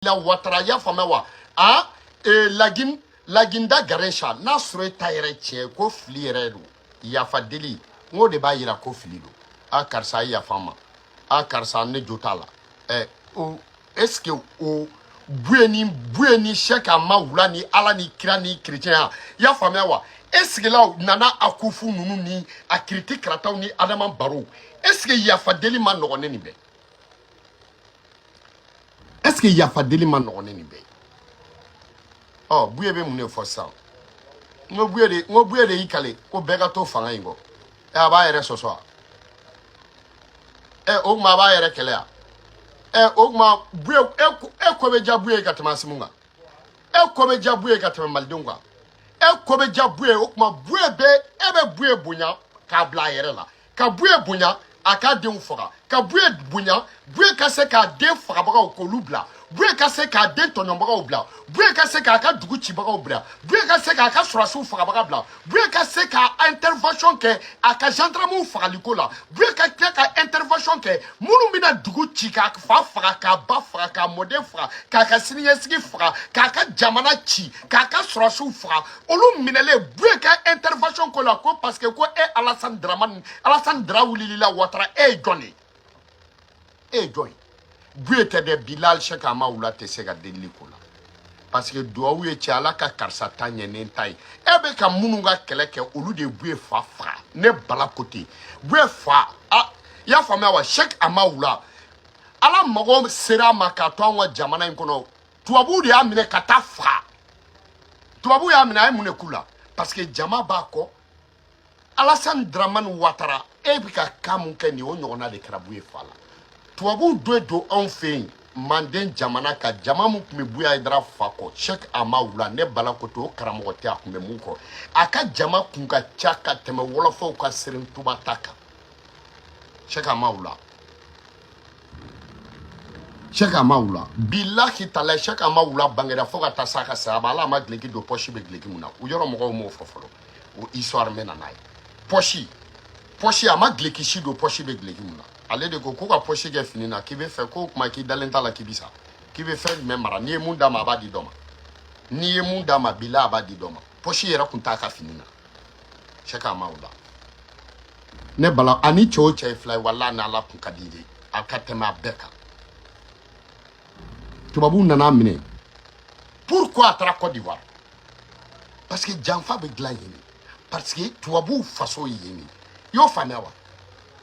la watara y'a faamuya wa a e, lagin laginda garen sa n'a sɔrɔ e ta yɛrɛ tiɲɛ ko fili yɛrɛ don yafa deli n k'o de b'a yira ko fili don a karisa a yafa n ma a karisa ne jo t'a la ɛ o est ce que o buye ni buye ni sɛki amawula ni ala ni kira ni kerecɛn i y'a faamuya wa est ce que la nana akufo ninnu ni a kiriti karataw ni adama barrow est ce que yafa deli man nɔgɔn ni nin bɛɛ est ce que yafa deli man nɔgɔn ni nin bɛɛ ye ɔ buye bɛ mun de fɔ sisan n ko buye de n ko buye de y'i kale ko bɛɛ ka to fanga in kɔ ɛ a b'a yɛrɛ sɔsɔ wa ɛ o tuma a b'a yɛrɛ kɛlɛ wa ɛ o tuma buye e ko bɛ diya buye ka tɛmɛ asimiw kan e ko bɛ diya buye ka tɛmɛ malidenw kan e ko bɛ diya buye o tuma buye bɛ e bɛ buye bonya k'a bila a yɛrɛ la ka buye bonya a k'a denw faga ka buye bonya buye ka se k'a den fagabagaw k'olu bila buye ka se k'a den tɔɲɔbagaw bila buye ka se k'a ka dugu cibagaw bila buye ka se k'a ka sɔrɔdasiw fagabaga bila buye ka se ka intervention kɛ a ka gendarmew fagaliko la buye ka tila ka intervention kɛ minnu bɛna dugu ci k'a fa faga k'a ba faga k'a mɔden faga k'a ka siniɲɛsigi faga k'a ka jamana ci k'a ka sɔrɔdasiw faga olu minɛlen buye ka intervention k'o la ko parce que ko e alassane dramani alassane dra wulili la watara e ye jɔn de ye e ye jɔn ye buye tɛ dɛ bilahi sɛki amawula tɛ se ka delili k'o la parce que duwawu ye cɛ ala ka karisa ta ɲɛ ne ta ye e bɛ ka minnu ka kɛlɛ kɛ olu de buye fa faga ne bala ko ten buye fa a i y'a faamuya wa sɛki amawula ala mago sera a ma k'a to an ka jamana in kɔnɔ tubabuw de y'a minɛ ka taa a faga tubabuw y'a minɛ a ye mun de k'u la parce que jama b'a kɔ alasani dramani watara e bɛ kan ka mun kɛ nin o ɲɔgɔnna de kɛra buye fa la tubabuw do don anw fɛ yen manden jamana ka jama min tun bɛ buye hayidara fa kɔ sɛki amawula ne bala ko to o karamɔgɔ tɛ a tun bɛ mun kɔ a ka jama tun ka ca ka tɛmɛ wɔlɔfɔw ka sɛrin tuba ta kan sɛki amawula Sɛki amawula bilahi talahi Sɛki amawula bangeda fo ka taa s'a ka saya ma Ala a ma gileki don pɔsi bɛ gileki mun na u yɔrɔ mɔgɔw m'o fɔ fɔlɔ o histoire n bɛ na n'a ye pɔsi pɔsi a ma gileki si don pɔsi bɛ gileki mun na ale de ko ko ka pɔsi kɛ fini na k'i bɛ fɛ k'o tuma k'i dalen t'a la k'i bɛ sa k'i bɛ fɛn jumɛn mara n'i ye mun d'a ma a b'a di dɔ ma n'i ye mun d'a ma bilahi a b'a di dɔ ma pɔsi yɛrɛ tun t'a ka fini na sɛki amawula ne bala ani cɛw cɛ ye fila ye wala ni ala tun ka di de a ka tɛmɛ a bɛɛ kan tubabuw nana a minɛ pourquoi a taara cote d'ivoire parce que janfa bɛ dilan yen parce que tubabuw faso ye yen i y'o faamuya wa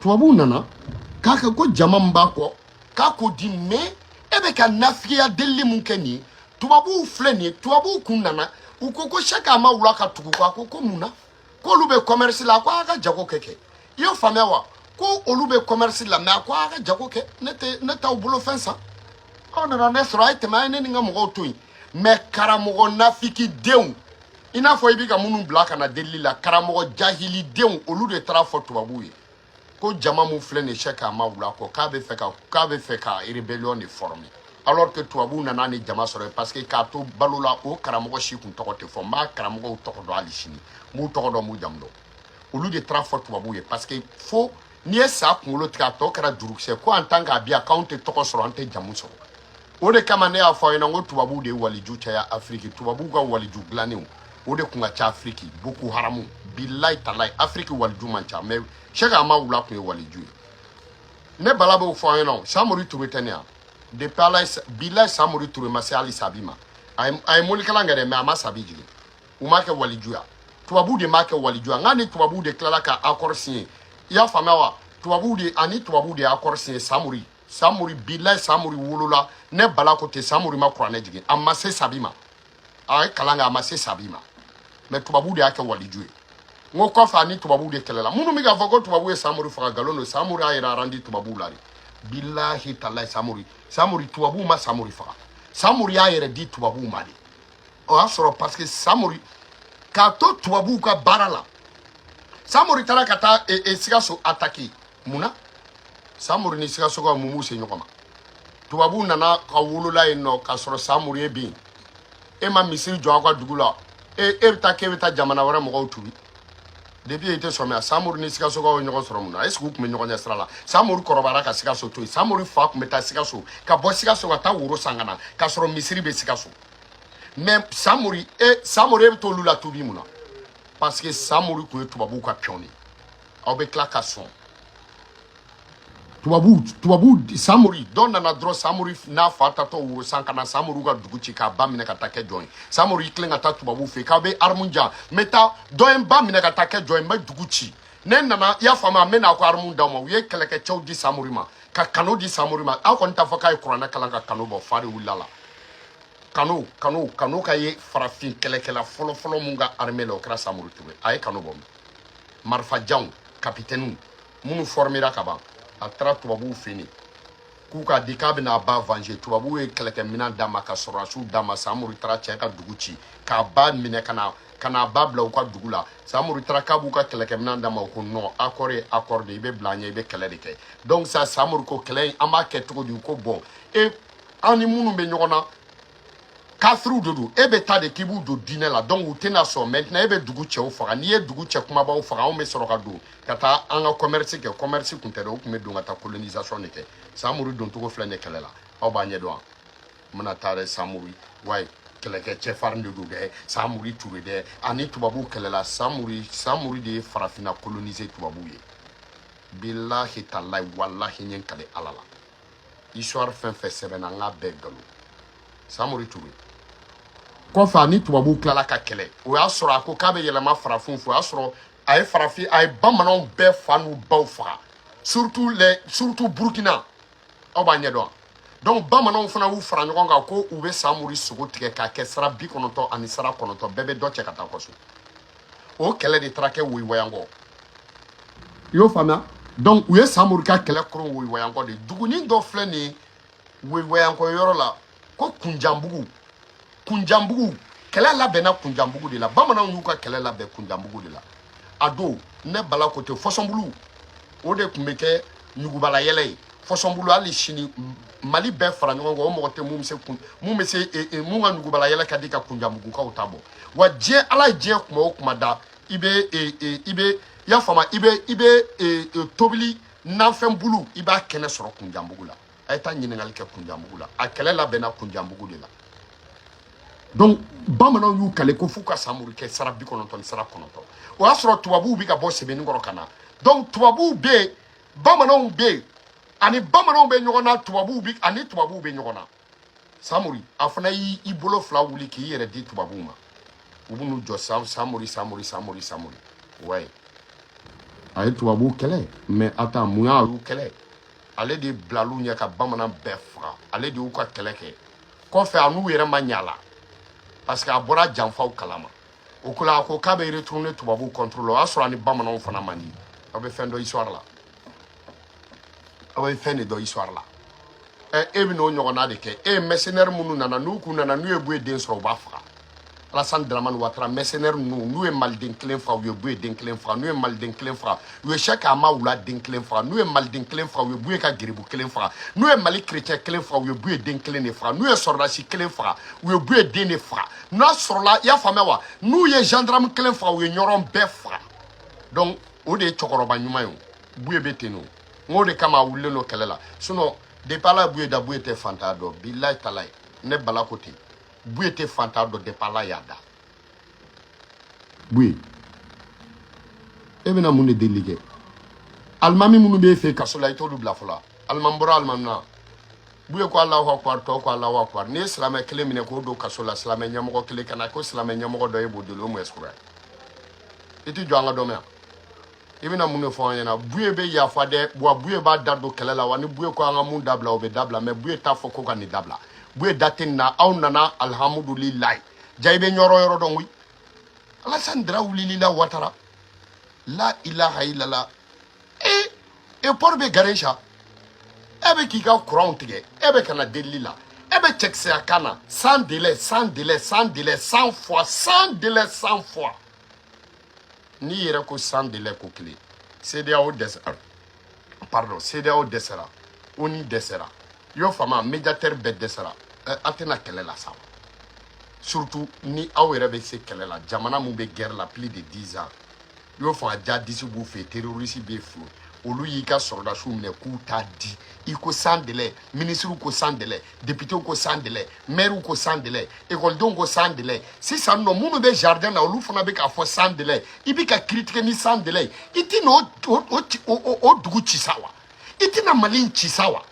tubabuw nana k'a kɛ ko jama min b'a kɔ k'a k'o di mɛ e bɛ ka nafigiya delili min kɛ nin ye tubabuw filɛ nin ye tubabuw kun nana u ko ko sɛki amawula ka tugu u kɔ a ko ko mun na k'olu bɛ kɔmɛrisi la ko a ka jago kɛ kɛ i y'o faamuya wa ko olu bɛ kɔmɛrisi la mɛ a ko a ka jago kɛ ne tɛ ne t'aw bolo fɛn san aw nana ne sɔrɔ a ye tɛmɛ a ye ne ni n ka mɔgɔw to yen mɛ karamɔgɔ nafigidenw i n'a fɔ i bɛ ka minnu bila ka na delili la karamɔgɔ jahilidenw olu de taara a fɔ tubabuw ye ko jama min filɛ nin ye sɛki amawula kɔ k'a bɛ fɛ ka k'a bɛ fɛ ka rébellion de former alors que tubabuw nana ni jama sɔrɔ parce que k'a to balo la o karamɔgɔ si kun tɔgɔ tɛ fɔ n b'a karamɔgɔw tɔgɔ dɔn hali sini n b'u tɔgɔ dɔn n b'u jamu dɔn olu de taara a fɔ tubabuw ye parce que fo n'i ye sa kunkolo tigɛ a tɔ kɛra jurukisɛ ko en tant que a bɛ yan k'anw tɛ tɔgɔ sɔrɔ an tɛ jamu sɔrɔ o de kama ne y'a fɔ aw ɲɛna n ko tubabuw de ye waliju caya afiriki tubabuw ka waliju dilannenw o de kun ka ca afiriki boko haramu bilayi talayi afiriki waliju man ca mɛ sɛki amawula kun ye waliju ye ne bala b'o fɔ aw ɲɛna samori ture tɛ ne yan depuis ala bilayi samori ture ma se hali sabi ma a ye morikalan kɛ dɛ mɛ a ma sabi jigin u m'a kɛ waliju ye tubabuw de m'a kɛ waliju ye n k'a ni tubabuw de tilala ka akɔri siɲe i y'a faamuya wa tubabuw de a ni tubabuw de ye akɔri siɲe samori samori bilayi samori wolola ne bala ko ten samori ma kuranɛ jigin a ma se sabi ma a ye kalan kɛ a ma se sabi ma mɛ tubabu de y'a kɛ waliju ye n ko kɔfɛ a ni tubabu de kɛlɛla minnu bɛ k'a fɔ ko tubabu ye samori faga nkalon don samori y'a yɛrɛ arandi tubabuw la de bilahi talayi samori samori tubabuw ma samori faga samori y'a yɛrɛ di tubabuw ma de o y'a sɔrɔ parce que samori k'a to tubabuw ka baara la samori taara ka taa e, e, sikaso atake mun na samori ni sikasokaw mun b'u se ɲɔgɔn ma tubabuw nana ka wolola yen nɔ k'a sɔrɔ samori ye bin e ma misiri jɔ aw ka dugu la e e bɛ taa k'e bɛ taa jamana wɛrɛ mɔgɔw tuubi depuis e tɛ sɔmiya samori ni sikasokaw ye ɲɔgɔn sɔrɔ mun na est ce que u tun bɛ ɲɔgɔn ɲɛ sira la samori kɔrɔbayara ka sikaso to yen samori fa tun bɛ taa sikaso ka bɔ sikaso ka taa woro san ka na k'a sɔrɔ misiri bɛ sikaso mais samori e samori e bɛ t'olu latuubi mun na parce que samori tun ye tubabuw ka piyɔn de ye aw bɛ tila ka sɔn tubabu tubabu samori dɔ nana dɔrɔn samori n'a fa taatɔ woro san ka na samori ka dugu ci k'a ba minɛ ka taa kɛ jɔn ye samori y'i tilen ka taa tubabu fɛ k'aw bɛ aramu di yan n bɛ taa dɔ ye n ba minɛ ka taa kɛ jɔn ye n bɛ dugu ci ne nana i y'a faamu a n bɛ n'a ko aramu d'aw ma u ye kɛlɛkɛcɛw di samori ma ka kano di samori ma aw kɔni t'a fɔ k'a ye kuranɛ kalan ka kano bɔ fa de wulila la kano kano kano ka ye farafin kɛlɛkɛla fɔlɔfɔlɔ min ka armée la o kɛra samori ture a ye kano bɔ min marifajanw kapitɛniw minnu fɔrmera ka ban a taara tubabuw fɛ yen k'u k'a di k'a bɛna a ba venger tubabuw ye kɛlɛkɛminɛn d'a ma ka sɔrɔdasiw d'a ma samori taara cɛ ka dugu ci k'a ba minɛ ka na ka n'a ba bila u ka dugu la samori taara k'a b'u ka kɛlɛkɛminɛn d'a ma u ko non accord ye accord de i bɛ bila an ɲɛ i bɛ kɛlɛ de kɛ donc sa samori ko kɛlɛ in an b'a kɛ cogo di u ko bon e an ni minnu bɛ ɲɔgɔn na kafiriw de don e bɛ taa de k'i b'u don diinɛ la donc u tɛna sɔn maintenant e bɛ dugu cɛw faga n'i ye dugu cɛ kumabaw faga anw bɛ sɔrɔ ka don ka taa an ka commerce kɛ commerce kun tɛ dɛ u tun bɛ don ka taa colonisation de kɛ samori doncogo filɛ nin kɛlɛ la aw b'a ɲɛdɔn wa n bɛna taa dɛ samori ouais kɛlɛkɛ cɛfarin de don dɛ samori ture dɛ a ni tubabuw kɛlɛla samori samori de ye farafinna coloniser tubabuw ye bilahi talahi walahi n ye n kale ala la histoire fɛn fɛn sɛbɛnna an k'a bɛɛ galon samori ture kɔfɛ a ni tubabuw tilala ka kɛlɛ o y'a sɔrɔ a ko k'a bɛ yɛlɛma farafinw fɛ o y'a sɔrɔ a ye farafin a ye bamananw bɛɛ fa n'u baw faga surtout les surtout burkina aw b'a ɲɛdɔn wa donc bamananw fana y'u fara ɲɔgɔn kan ko u bɛ samori sogo tigɛ k'a kɛ sara bi kɔnɔntɔn ani sara kɔnɔntɔn bɛɛ bɛ dɔ cɛ ka taa kɔso o kɛlɛ de taara kɛ woyiwayankɔ i y'o faamuya donc u ye samori ka kɛlɛ koron woyiwayankɔ de dugunin dɔ filɛ nin ye woyiwayankɔ yɔrɔ la ko kunjanbugu kunjanbugu kɛlɛ labɛnna kunjanbugu de la bamananw y'u ka kɛlɛ labɛn kunjanbugu de la a don ne bala ko ten fɔsɔnbulu o de tun bɛ kɛ ɲugubala yɛlɛ ye fɔsɔnbulu hali sini mali bɛɛ fara ɲɔgɔn kan o mɔgɔ tɛ mun bɛ se kun mun bɛ se e, e, mun ka ɲugubala yɛlɛ ka di ka kunjanbugukaw ta bɔ wa diɲɛ ala ye diɲɛ kuma o kuma da i bɛ e, i bɛ i y'a faamu i bɛ i bɛ tobili nafɛn bulu i b'a kɛnɛ sɔrɔ kunjanbugu la a ye taa ɲininkali kɛ kunjanbugu la a kɛlɛ labɛnna kunjanbugu de la donc bamananw y'u kale ko f'u ka samori kɛ sara bi kɔnɔntɔn ni sara kɔnɔntɔn o y'a sɔrɔ tubabuw bɛ ka bɔ sebeninkɔrɔ ka na donc tubabuw bɛ yen bamananw bɛ yen a ni bamananw bɛ ɲɔgɔn na tubabuw bɛ a ni tubabuw bɛ ɲɔgɔn na samori a fana y'i i bolo fila wuli k'i yɛrɛ di tubabuw ma u b'u jɔ sam samori samori samori samori ouais a ye tubabuw kɛlɛ mais attends mun y'a y'u kɛlɛ ale de bilal'u ɲɛ ka bamanan bɛɛ faga ale de y'u ka kɛlɛ kɛ kɔfɛ a n'u yɛrɛ ma ɲa la parce que a bɔra janfaw kalama o ko la a ko k'a bɛ retourner tubabuw contre la o y'a sɔrɔ a ni bamananw fana man di aw bɛ fɛn dɔn histoire la aw bɛ fɛn de dɔn histoire la ɛ e bɛ n'o ɲɔgɔnna de kɛ e ye mercenaire minnu nana n'u kun nana n'u ye b'u ye den sɔrɔ u b'a faga Alassane Dramane Ouattara, mercenaires nous, nous sommes malden kelen fa, nous sommes den kelen fa, nous sommes malden kelen fa, nous sommes chaque ama ou la den kelen fa, nous sommes malden kelen fa, nous sommes ka giribu kelen fa, nous sommes mali chrétien kelen fa, nous sommes den kelen fa, nous sommes sordachi kelen fa, nous sommes den fa. Nous sommes là, il y a famille wa, nous sommes gendarmes kelen fa, nous sommes bɛɛ fa. Donc, o de ye cɛkɔrɔba ɲuman ye o, buye bɛ ten o. N ko de kama a wulilen don kɛlɛ la, sinon depuis ala ye buye da buye tɛ fantan dɔn, bilayi talayi, ne bala ko ten. buye tɛ fantan dɔn depuis ala y'a da buye e bɛna mun de deli kɛ alimami minnu b'e fɛ kaso la i t'olu bila fɔlɔ alimami bɔra alimami na buye ko alahu akubar tɔw ko alahu akubar n'i ye silamɛ kelen minɛ k'o don kaso la silamɛ ɲɛmɔgɔ kelen ka na ko silamɛ ɲɛmɔgɔ dɔ e b'o deli o mun ɛsukura i tɛ jɔ an ka dɔ mɛn yan i bɛna mun de fɔ an ɲɛna buye bɛ yafa dɛ wa buye b'a da don kɛlɛ la wa ni buye ko an ka mun dabila o bɛ dabila mais buye t'a fɔ ko ka nin dabila buye da tɛ nin na aw nana alihamudulilayi ja i bɛ yɔrɔ yɔrɔ dɔn koyi alasani dara wulili la watara la ilaha ilala ee e port bɛ gare sa e bɛ k'i ka kuranw tigɛ e bɛ ka na delili la e bɛ cɛkisɛya kan na sans délai sans délai sans délai cent fois sans délai cent fois n'i yɛrɛ ko sans délai ko kelen CEDEAO dɛsɛra pardon CEDEAO dɛsɛra ONU dɛsɛra i y'o faamu médiateur bɛɛ dɛsɛra eh, a tɛ na kɛlɛ la sa wa surtout ni aw yɛrɛ bɛ se kɛlɛ la jamana min bɛ guerre la plus de 10 ans i y'o faamu djihadiste b'u fɛ terroriste b'u fɛ olu y'i ka sɔrɔdasiw minɛ k'u t'a di i ko sans délai minisiriw ko sans délai depitew ko sans délai mɛriw ko sans délai ekɔlidenw ko sans délai sisan nɔ minnu bɛ jardin na olu fana bɛ k'a fɔ sans délai i bɛ ka critiquer ni sans délai i tɛ na o o o ci- o o- o dugu ci sa wa i tɛ na mali in ci sa wa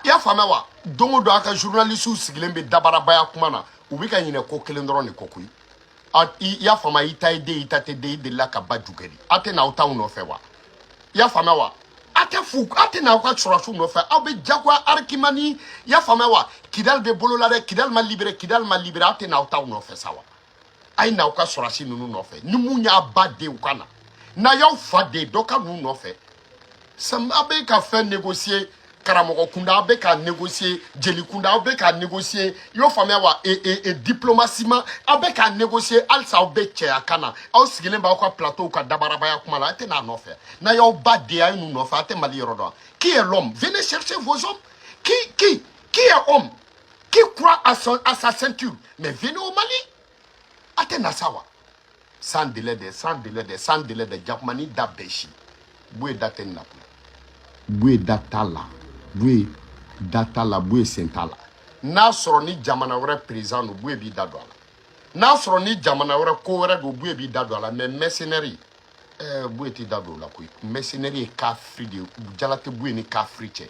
i y'a faamuya wa don o don a ka journalisiw sigilen bɛ dabarabaya kuma na u bɛ ka ɲinɛ ko kelen dɔrɔn de kɔ koyi a- i i y'a faamuya i ta ye den i ta tɛ den i delila ka ba ju kɛ di a tɛ na aw taw nɔfɛ wa i y'a faamuya wa a tɛ fu a tɛ na aw ka sɔrɔdasiw nɔfɛ aw bɛ jagoya arikimani i y'a faamuya wa kidali bɛ bolo la dɛ kidali ma libéré kidali ma libéré aw tɛ na aw taw nɔfɛ sa wa a ye n'aw ka sɔrɔdasi ninnu nɔfɛ ni min y'a ba den o ka na n'a y'aw fa den dɔ ka n'u nɔfɛ Sam aw bɛ ka fɛn négocier karamɔgɔ kunda aw bɛ ka négocier jeli kunda aw bɛ ka négocier i y'o faamuya wa e e e diplomasi ma aw bɛ ka négocier halisa aw bɛ cɛya kan na aw sigilen b'aw ka plateau kan dabarabaya kuma la a tɛ n'a nɔfɛ n'a y'aw ba den a ye n'u nɔfɛ a tɛ mali yɔrɔ dɔn qui est l'homme venez chercher vos hommes qui qui qui est homme qui croit à son à sa ceinture mais venez au mali a tɛ na sa wa sans délai de sans délai de sans délai de jakuma ni da bɛɛ si buye da tɛ nin na koyi buye da t'a la buye da t'a la buye sen t'a la n'a sɔrɔ ni jamana wɛrɛ perezidan don buye b'i da don a la n'a sɔrɔ ni jamana wɛrɛ ko wɛrɛ don buye b'i da don a la mɛ mɛsenɛri ɛɛ buye t'i da don o la koyi mɛsenɛri ye kafiri de ye jala tɛ buye ni kafiri cɛ